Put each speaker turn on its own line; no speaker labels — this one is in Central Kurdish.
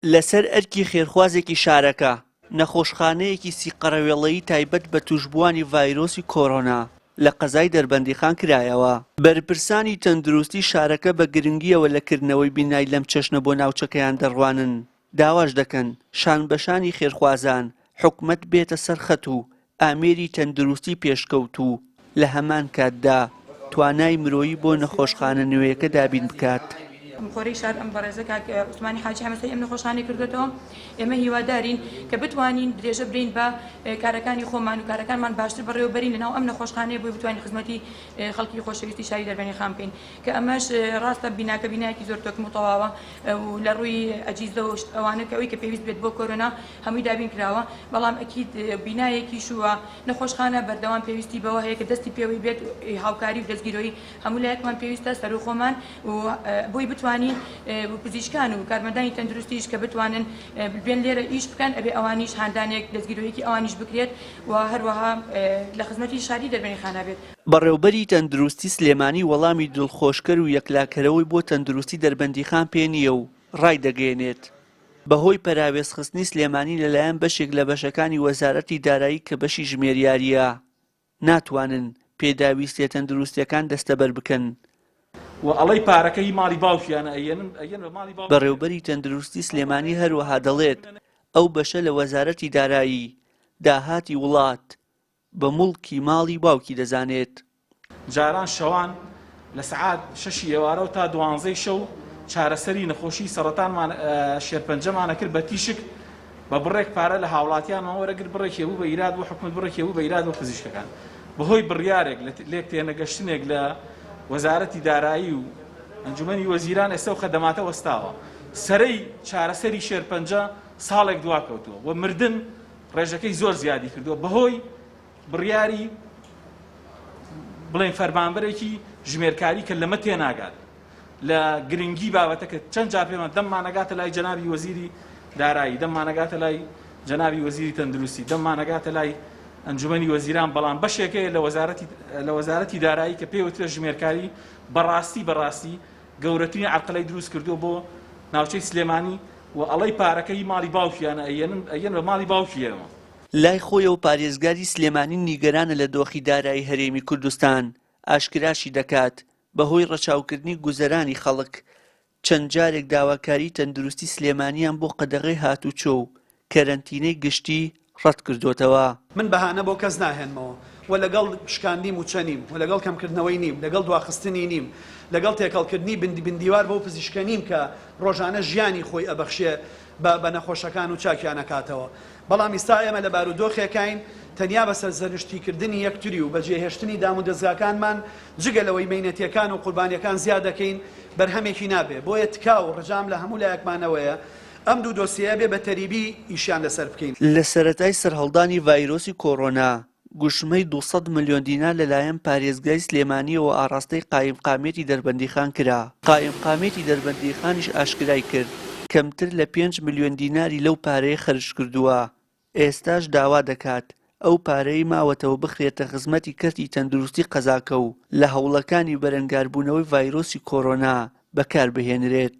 لەسەر ئەرکی خێرخوازێکی شارەکە، نەخۆشخانەیەکی سی قەرەوێڵەیی تایبەت بە تووشبووانی ڤایرۆسی کۆرۆنا لە قەزای دەربەندیخان کرایەوە. بەرپرسانی تەندروستی شارەکە بە گرنگییەوە لە کردنەوەی بینای لەم چەشنە بۆ ناوچەکەیان دەڕوانن، داواش دەکەن شانبەشانی خێرخوازان، حکومەت بێتە سەر خەت و ئامێری تەندروستی پێشکەوتوو، لە هەمان کاتدا توانای مرۆیی بۆ نەخۆشخانە نوێیەکە دابین بکات. خۆری شار
ئەم بەڕێزە کاک عوسمانی حاجی حەمەسەری ئەم نەخۆشخانەی کردۆتەوە، ئێمە هیوادارین کە بتوانین درێژە بدەین بە کارەکانی خۆمان و کارەکانمان باشتر بەڕێوە بەرین لەناو ئەم نەخۆشخانەیە بۆی بتوانین خزمەتی خەڵکی خۆشەویستی شاری دەربەنیخان بکەین. کە ئەمەش ڕاستە بیناکە بینایەکی زۆر تۆکم و تەواوە و لە ڕووی ئەجیزە و ئەوانە کە ئەوی کە پێویست بێت بۆ کۆرۆنا هەمووی دابین کراوە بەڵام ئەکید بینایەکیش و نەخۆشخانە بەردەوام پێویستی بەوە هەیە کە دەستی پێوەی بێت و هاوکاری و دەستگیرۆی هەموو لایەکمان پێویستە سەروو خۆمان و بۆی بتوانین و پزیشکان و کارمەندانی تەندروستیش کە بتوانن بێن لێرە ئیش بکەن ئەبێ ئەوانیش هاندانێک دەستگیرۆیەکی ئەوانیش بکرێت و هەروەها لە خزمەتی شاری دەربەنیخانە بێت. بەڕێوبەری تەندروستی
سلێمانی وەڵامی دڵخۆشکەر و یەکلاکەرەوەی بۆ تەندروستی دەربەندیخان پێ نییە و ڕایدەگەیەنێت، بەهۆی پەراوێزخستنی سلێمانی لەلایەن بەشێک لە بەشەکانی وەزارەتی دارایی کە بەشی ژمێریارییە، ناتوانن پێداویستییە تەندروستییەکان دەستەبەر بکەن.
بەڕێوبەری تەندروستی
سلێمانی هەروەها دەڵێت، ئەو بەشە لە وەزارەتی دارایی، داهاتی وڵات، بە موڵکی ماڵی باوکی دەزانێت. جاران
شەوان لە سەعات شەشی ئێوارەوە تا دوانزەی شەو چارەسەری نەخۆشیی سەڕەتانمان شێرپەنجەمان ئەکرد بە تیشک بە بڕێک پارە لە هاوڵاتیانمان وەرەگرت بڕێکی ئەبوو بە ئیراد بۆ حکومەت بڕێکی ئەبوو بە ئیراد بۆ پزیشکەکان بەهۆی بڕیارێک لە لێک تێنەگەشتنێک لە وەزارەتی دارایی و ئەنجومەنی وەزیران ئێستا و خەدەماتە وەستاوە سەرەی چارەسەری شێرپەنجە ساڵێک دواکەوتووە و مردن ڕێژەکەی زۆر زیادی کردووە بەهۆی بڕیاری بڵێن فەرمانبەرێکی ژمێرکاری کە لەمە تێناگات لە گرنگی بابەتەکە چەند جا پێمە دەممانەگاتە لای جەنابی وەزیری دارایی دەممانەگاتە لای جەنابی وەزیری تەندروستی دەممانەگاتە لای ئەنجومی وەزیران بەڵام بەشێکەیە لە وەزارەتی لە وەزارەتی دارایی کە پێوترە ژمێرکاری بەڕاستی بەڕاستی گەورەترین عەرقلەی دروست کردووە بۆ ناوچەی سلێمانی و ئەڵێی پارەکە هی ماڵی باوکیانە ئەیەنن ئەیەن بە ماڵی باوکیەوە. لای خۆیەوە
پارێزگاری سلێمانی نیگەرانە لە دۆخی دارایی هەرێمی کوردستان، ئاشکراشی دەکات، بەهۆی ڕەچاوکردنی گوزەرانی خەڵک چەند جارێک داواکاری تەندروستی سلێمانیان بۆ قەدەغەی هاتوچۆ و کەرەنتینەی گشتی ڕەتکردۆتەوە. من بەهانە بۆ کەس
ناهێنمەوە و لەگەڵ شکاندی موچە نیم و لەگەڵ کەمکردنەوەی نیم، لەگەڵ دواخستنی نیم، لەگەڵ تێکەڵکردنی بندیوار بەو پزیشکە نیم کە ڕۆژانە ژیانی خۆی ئەبەخشێ بە بە نەخۆشەکان و چاکیان ئەکاتەوە، بەڵام ئیستا ئێمە لە بارودۆخێکاین تەنیا بە سەرزەنشتیکردنی یەکتری و بەجێهێشتنی دامودەزگاکانمان جگە لەوەی مەینەتیەکان و قوربانیەکان زیا دەکەین بەرهەمێکی نابێ، بۆیە تکا و ڕجام لە هەموو لایەکمانەوەیە، ئەم دوو دۆسیەیە بێ بە تەریبی ئیشیان لەسەر بکەین. لە سەرەتای
سەرهەڵدانی ڤایرۆسی کۆرۆنا، گوشمەی دوو سەد ملیۆن دینار لە لایەن پارێزگای سلێمانییەوە ئاڕاستەی قایمقامیەتی دەربەندیخان کرا. قایمقامیەتی دەربەندیخانیش ئاشکرای کرد، کەمتر لە پێنج ملیۆن دیناری لەو پارەیە خەرج کردووە، ئێستاش داوا دەکات ئەو پارەی ماوەتەوە بخرێتە خزمەتی کەرتی تەندروستی قەزاکە و لە هەوڵەکانی بەرەنگاربوونەوەی ڤایرۆسی کۆرۆنا بەکاربهێنرێت.